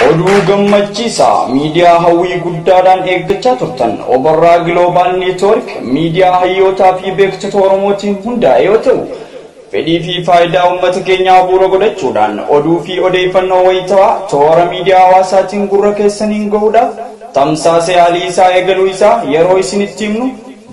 Oduu gammachiisaa miidiyaa hawwii guddaadhaan eeggachaa turtan Obarraa Giloobaal Neetwoork miidiyaa hayyootaa fi beektota Oromootiin hundaa'e yoo ta'u, fedhii fi faayidaa uummata keenyaa bu'uura godhachuudhaan oduu fi odeeffannoo wayitawaa toora miidiyaa hawaasaatiin gurra keessaniin gahuudhaaf tamsaasa yaalii isaa eegaluu isaa yeroo isinitti himnu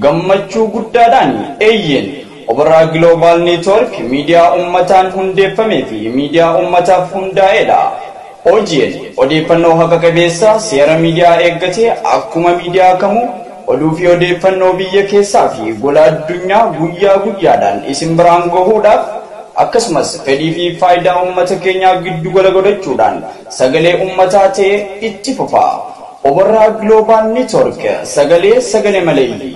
gammachuu guddaadhaani. Eeyyeen! Oborraa Global Network miidiyaa ummataan hundeeffamee fi miidiyaa ummataaf hundaa'edha. OGN odeeffannoo haqa qabeessa seera miidiyaa eeggate akkuma miidiyaa kamuu oduu fi odeeffannoo biyya keessaa fi gola addunyaa guyyaa guyyaadhaan isin biraan gahuudhaaf akkasumas fedhii fi faayidaa ummata keenyaa giddu gala godhachuudhaan sagalee ummataa ta'ee itti fufa. Oborraa Global Network sagalee sagale maleeyyii.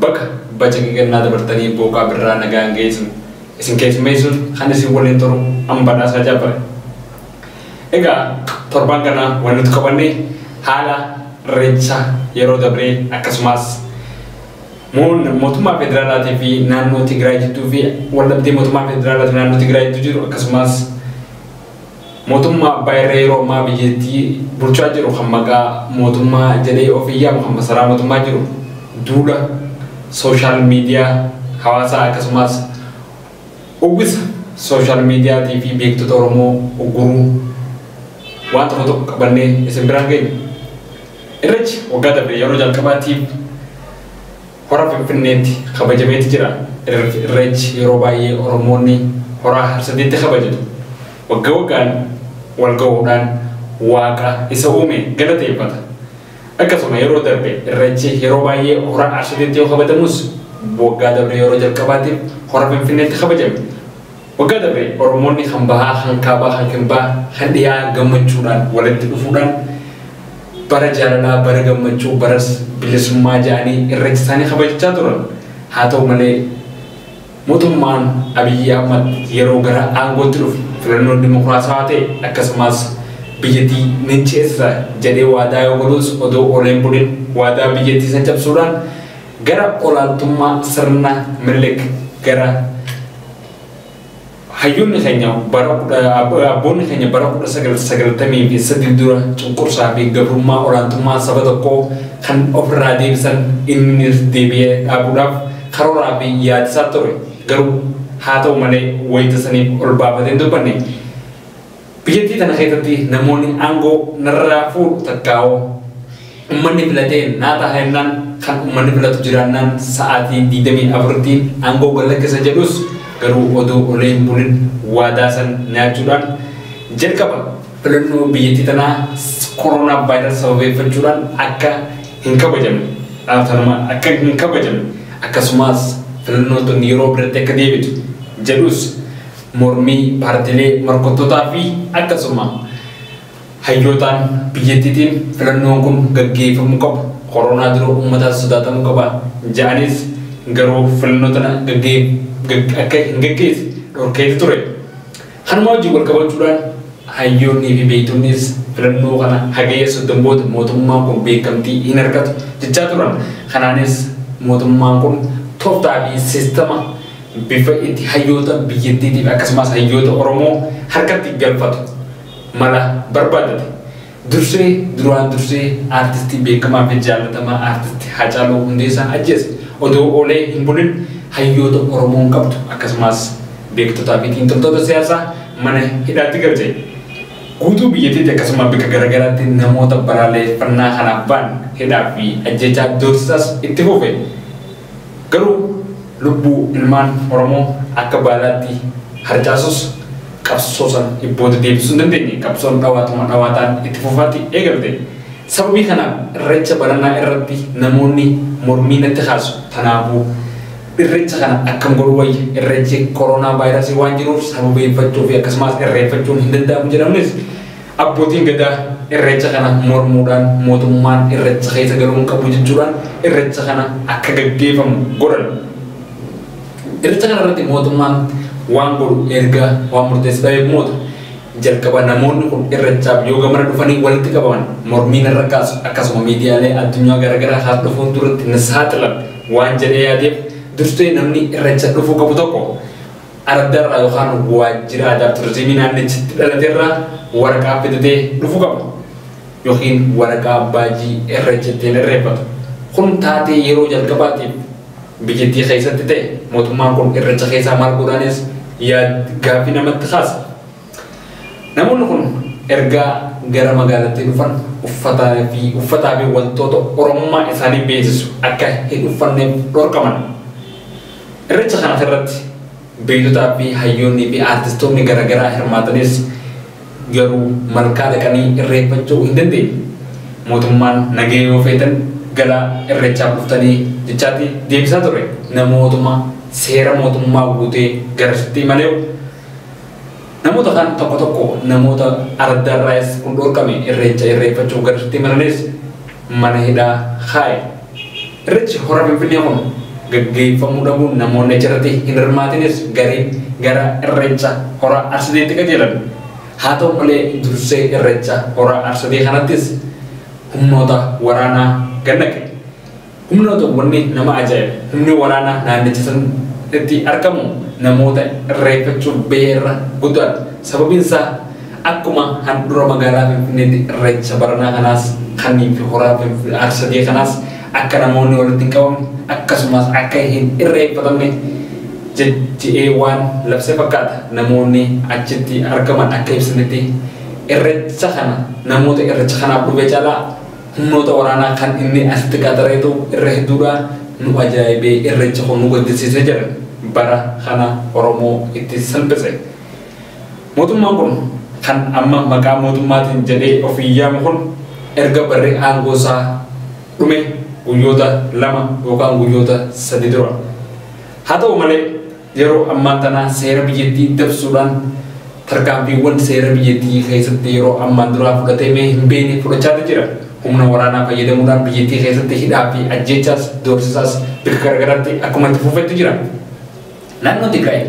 Baga bacaqii gannaa dabartanii booqaa birraa nagaan geessan isin keessummeessuun kan isin waliin turu an Badhaasaa Jabbar. Egaa torbaan kana wan nuti qabanne haala irreecha yeroo dabree akkasumaas moon mootummaa federaalaatii fi naannoo Tigraay jidduu fi waldhabdee mootummaa federaalaatii fi naannoo Tigraay jidduu jiru akkasumaas Mootummaa abbaa irree yeroo ammaa biyyattii bulchaa jiru kan maqaa mootummaa jedhee ofiin yaamu kan masaraa mootummaa jiru duula sooshaal miidiyaa hawaasaa akkasumaas uwwisa sooshaal miidiyaatii fi beektota Oromoo ugguruu waan tokko tokko qabannee isin biraan geenye. Irreechi waggaa dabre yeroo jalqabaatiif Hora Finfinneetti kabajameeti jira. Irreechi yeroo baay'ee Oromoonni Horaa Harsadiitti kabajatu. Wagga waggaan wal gahuudhaan Waaqa isa uume galateeffata. Akkasuma yeroo darbe Irreechi yeroo baay'ee Hora Arsadiitti yoo kabajamus waggaa dabree yeroo jalqabaatiif Hora Finfinneetti kabajame. Waggaa darbe Oromoonni kan bahaa, kan kaabaa, kan kirbaa, kan dhiyaa gammachuudhaan walitti dhufuudhaan bara jaalalaa, bara gammachuu, bara bilisummaa ja'anii irreecha isaanii kabajachaa turan. Haa ta'u malee Mootummaan Abiyyi Ahmad yeroo gara aangootti dhufe filannoon dimokiraasawaa ta'e akkasumaas biyyattii nin ceesisa jedhee waadaa yoo galuus odoo oolee hin bulin waadaa biyyattii san cabsuudhaan Gara olaantummaa sirna Minilik gara hayyonni keenya bara abboonni keenya bara 1998 dura cunqursaa fi gabrummaa olaantummaa saba tokkoo kan ofirraa deebisan innis deebi'ee dhaabuudhaaf karooraa fi yaadisaa ture garuu haa ta'u malee wayita saniif ol baafatee hin dubbanne. Biyyattii tana keessatti namoonni aangoo narraa fuudhu takkaawuu ummanni filatee naa taha jennaan kan ummanni filatu jiraannaan sa'aatii 24tti aangoo gad lakkisa jedhus garuu odoo olee hin bulin waadaa san nyaachuudhaan jalqaba filannoo biyyattii tanaa koroonaa vaayiras sababeeffachuudhaan akka hin kabajamne dhaatanuma akka hin kabajamne akkasumaas filannoo tun yeroo biratti akka deebitu jedhus mormii paartilee morkattotaa fi akkasuma hayyootaan biyyattiitiin filannoon kun gaggeefamuu qabu koroonaa dura uummataan sodaatamuu qaba ja'anis garuu filannoo tana akka hin gaggeesse dhorkeeti ture. Kanuma wajjin walqabachuudhaan hayyoonnii fi beektonnis filannoo kana hagayya 30 booda mootummaan kun beekamtii hin argatu jechaa turan. Kanaanis mootummaan kun toftaa fi sistama bifa itti hayyoota biyyattiitiif akkasumaas hayyoota Oromoo harkatti galfatu mala barbaadate. Dursee duraan dursee aartistii beekamaa fi jaallatamaa aartisti Haacaaluu Hundeessaa ajjeese. Odoo oolee hin bulin hayyoota Oromoon qabdu akkasumaas beektotaa fi xiinxaltoota siyaasaa mana hidhaatti galche. Guutuu biyyattiitti akkasuma bika garagaraatti namoota balaaleeffannaa kanaaf ba'an hidhaa fi ajjeechaa doorsisaas itti fufe. Garuu lubbuu ilmaan Oromoo akka baalaatti harcaasus qabsoo san booda deebisuu hin dandeenye. Qabsoon dhawaatuma dhawaataan itti fufaatti eegalte. Sababii kanaaf irreecha baranaa irratti namoonni mormii natti kaasu. Tanaafuu irreecha kana akkam godhuu wayya? Irreechi koroonaa vaayirasii waan jiruuf sababeeffachuufi akkasumaas irreeffachuun hin danda'amu jedhamunis, Abbootiin Gadaa Irreecha kana mormuudhaan mootummaan Irreecha keessa galuu hin qabu jechuudhaan Irreecha kana akka gaggeefamu godhan. Irreecha kana irratti mootummaan waan godhu erga waan murteesse ta'eef moota. Jalqaba namoonni kun Irreechaaf yoo gamana dhufanii walitti qabaman mormii narra kaasu akkasuma miidiyaalee addunyaa garaagaraa hordofuun duratti na saaxilan waan jedhee yaadeef dursee namni Irreecha dhufuu qabu tokko ardarraa yookaan waajjira aadaa fi turizimii naannichatti dhalaterraa waraqaa fidatee dhufu qaba. Yookiin waraqaa abbaajii irreecha ittiin irreeffatu. Kun taatee yeroo jalqabaatiif biyyattii keessatti ta'e mootummaan kun irreecha keessaa maal godhaanis yaad gaaffii namatti kaasa. Namoonni kun erga gara magaalattii dhufan uffataa fi uffataa fi wantoota Oromummaa isaanii beeksisu akka hin uffanneef dhorkaman. Irreecha kanas irratti beektotaa fi hayyoonnii fi aartistoonni gara garaa hirmaatanis garuu malkaa dhaqanii irreeffachuu hin dandeenye. Mootummaan nagaya yoo feetan gara irreechaaf dhuftanii jechaati deebisaa ture. Namootuma seera mootummaa guutee garasitti imaleew. Namoota kaan tokko tokko namoota araddaa irraayis kun dhorkame irreecha irreeffachuuf gadatti imalanis mana hidhaa kaaye. Irreechi hora Finfinnee kun gaggeeffamuu dhabuun namoonni achirratti hin hirmaatinis gariin gara irreecha hora Arsideetti qajeelan. Haa ta'u malee dursee irreecha hora Arsidee kanattis humnoota waraanaa gannaqe. Humnoota wanni nama ajaa'ibu humni waraanaa naannicha sanitti argamu namoota irreeffachuuf bahe irra guddaadha. Sababiin isaa akkuma handhura magaalaa Finfinneetti irreecha baranaa kanaas kanneen fi horaa Arsadee kanaas akka namoonni walitti hin qabamne akkasumaas akka hin irreeffatamne jedhee waan labse fakkaata. Namoonni achitti argaman akka ibsanitti irreecha kana namoota irreecha kanaaf dhufe caalaa Humnoota waraanaa kan inni asitti qaxareetu irra hedduudha. Nu ajaa'ibe, irreechi kun nu gaddisiise jedhan. Bara kana Oromoo itti salphise. Mootummaan kun kan amma maqaa mootummaatiin jedhee ofiin yaamu kun erga barri aangoosaa dhume guyyoota lama yookaan guyyoota sadi dura. Haa ta'u malee. Yeroo ammaa tana seera biyyattii dabsuudhaan tarkaanfiiwwan seera biyyattii keessatti yeroo ammaan duraa fudhateemee hin beekne fudhachaati jira. Humna waraanaa fayyadamuudhaan biyyattii keessatti hidhaa fi ajjeechaas, doorsisaas bika garagaraatti akkuma itti fufetti jira. Naannoo Tigraay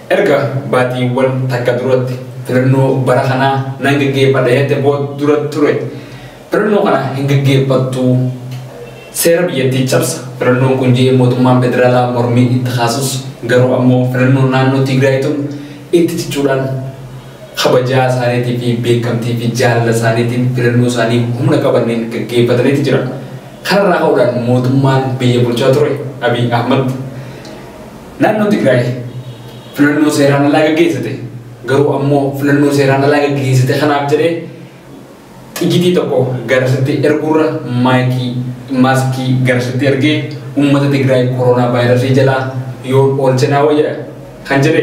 erga baatiiwwan takka duratti filannoo bara kanaa nan gaggeeffadha jette booda dura ture. Filannoo kana hin gaggeeffattu. Seera biyyattii cabsa. Filannoon kun jedhee mootummaan federaalaa mormii itti kaasus garuu ammoo filannoon naannoo Tigraay tun itti cichuudhaan kabajaa isaaniitii fi beekamtii fi jaalala isaaniitiin filannoo isaanii humna qabaniin gaggeeffataniiti jira. Kanarraa ka'uudhaan mootummaan biyya bulchaa ture Abiy Ahmad naannoo Tigraay filannoo seeraan alaa gaggeessite. Garuu ammoo filannoo seeraan alaa gaggeessite kanaaf jedhee Xigitii tokko garasitti erguurra maayikii, maaskii garasitti ergee uummata Tigraay koroonaa vaayirasii jalaa yoon oolche naa wayya kan jedhe.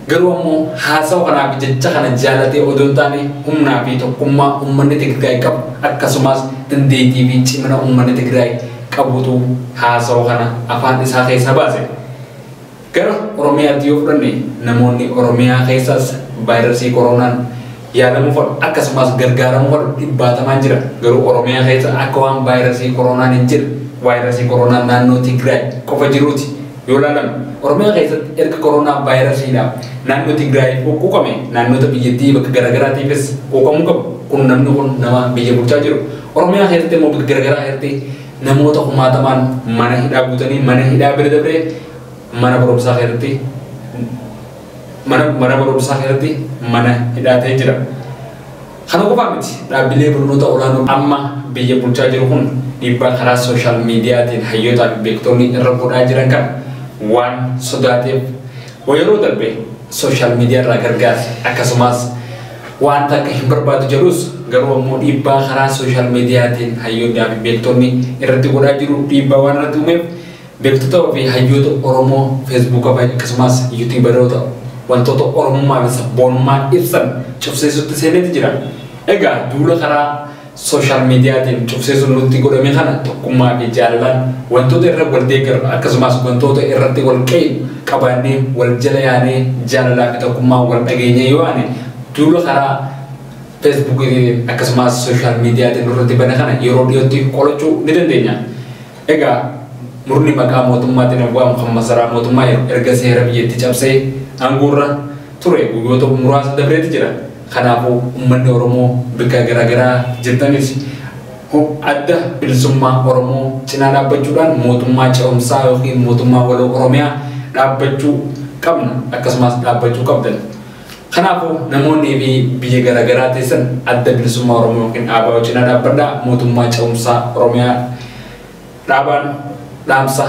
Garuu ammoo haasawa kanaa fi jecha kana jaalatee odoo hin taane humnaa fi tokkummaa uummanni Tigraay qabu akkasumaas dandeettii fi cimina uummanni Tigraay qabutu haasawa kana afaan isaa keessaa baase. Gara Oromiyaatti yoo fudhanne namoonni Oromiyaa keessaas vaayirasii koroonaan yaalamuu fadhu akkasumaas gargaaramuu fadhu dhibbaatamaan jira. Garuu Oromiyaa keessa akka waan vaayirasii koroonaan hin jirre vaayirasii koroonaan naannoo Tigraay qofa jiruuti yoo laalame. Oromiyaa keessatti erga koroonaa vaayirasiidhaaf naannoo Tigraay quuqame naannoota biyyattii bakka garaagaraatiifis quuqamuu qabu. Kun namni kun nama biyya bulchaa jiru. Oromiyaa keessatti immoo bakka garaagaraa keessatti namoota kumaatamaan mana hidhaa guutanii mana hidhaa bira dabree Mana barumsaa keessatti mana mana barumsaa keessatti mana hidhaa ta'ee jira. Kana qofaa miti dhaabbilee barnoota olaanoo amma biyya bulchaa jiru kun dhiibbaa karaa sooshaal miidiyaatiin hayyootaa fi beektonni irra godhaa jiran kana waan sodaateef yeroo darbe sooshaal miidiyaa irraa gargaarsa akkasumas wanta akka hin barbaadu jedhus garuu ammoo dhiibbaa karaa sooshaal miidiyaatiin hayyootaa fi beektonni irratti godhaa jiru dhiibbaa waan irratti uumeef Beektota fi hayyoota Oromoo Feesbuuka fi akkasumaas Yuutiibaroota wantoota Oromummaa fi Sabboonummaa ibsan cufsiisutti seeneeti jira. Egaa duula karaa Sooshaal Miidiyaatiin cufsiisuun nutti godhame kana tokkummaa fi jaalalaan wantoota irra wal deeggarru akkasumaas wantoota irratti wal qeeynu qabaannee wal jala yaanee jaalalaa fi tokkummaan wal dhageenyee yoo ani duula karaa Feesbuukiitiin akkasumaas Sooshaal Miidiyaatiin nurratti bane kana yeroo dhiyootti qolachuu ni dandeenya. Egaa murni maqaa mootummaatiin of waamu kan masaraa mootummaa erga seera biyyattii cabsee aangoorra ture guyyoota muraasa dabreeti jira. Kanaafuu ummanni Oromoo bikka garaagaraa jirtanis Adda Bilisummaa Oromoo cinaa dhaabbachuudhaan mootummaa ce'umsaa ykn mootummaa waloo Oromiyaa dhaabbachuu qabna akkasumaas dhaabbachuu qabdan. Kanaafuu namoonni fi biyya gara garaa teessan adda bilisummaa Oromoo yookiin dhaabaa wajjinaa dhaabbadhaa mootummaa ce'umsaa Oromiyaa dhaabaan dhaamsa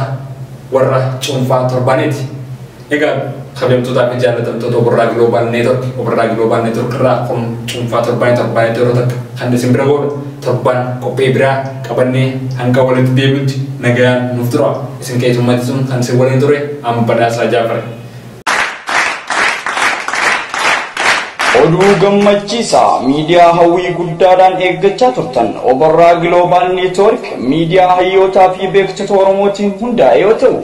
warra cuunfaa torbaaneeti. Egaa kabajamtootaa fi jaallatamtoota Obirraa Global Network, Obirraa Global Network irraa kun cuunfaa torbaanii torbaaneetti yeroo takka kan isin bira goodha. Torbaan qophii biraa qabannee hanga walitti deebinutti nagayaan nuuf tura. Isin keessummeessuun kan isin waliin ture an badhaasaa jaafare. Oduu gammachiisaa miidiyaa hawwii guddaadhaan eeggachaa turtan Obarraa Giloobaal Neetwoork miidiyaa hayyootaa fi beektota Oromootiin hundaa'e yoo ta'u,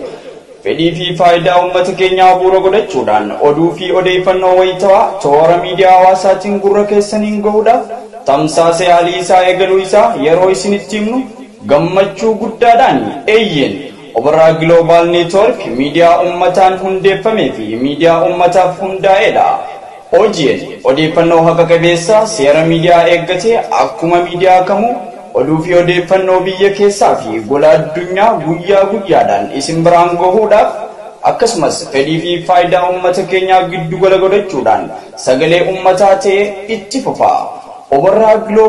fedhii fi faayidaa uummata keenyaa bu'uura godhachuudhaan oduu fi odeeffannoo wayitawaa toora miidiyaa hawaasaatiin gurra keessaniin gahuudhaaf tamsaasa yaalii isaa eegaluu isaa yeroo isinitti himnu gammachuu guddaadhaani. Eeyyeen Oborraa Global Network miidiyaa ummataan hundeeffamee fi miidiyaa ummataaf hundaa'edha. OGN odeeffannoo haqa qabeessa, seera miidiyaa eeggate, akkuma miidiyaa kamuu, oduu fi odeeffannoo biyya keessaa fi gola addunyaa guyyaa guyyaadhaan isin biraan gahuudhaaf, akkasumas fedhii fi faayidaa ummata keenyaa giddu gala godhachuudhaan sagalee ummataa ta'ee itti fufa. Oborraa Global.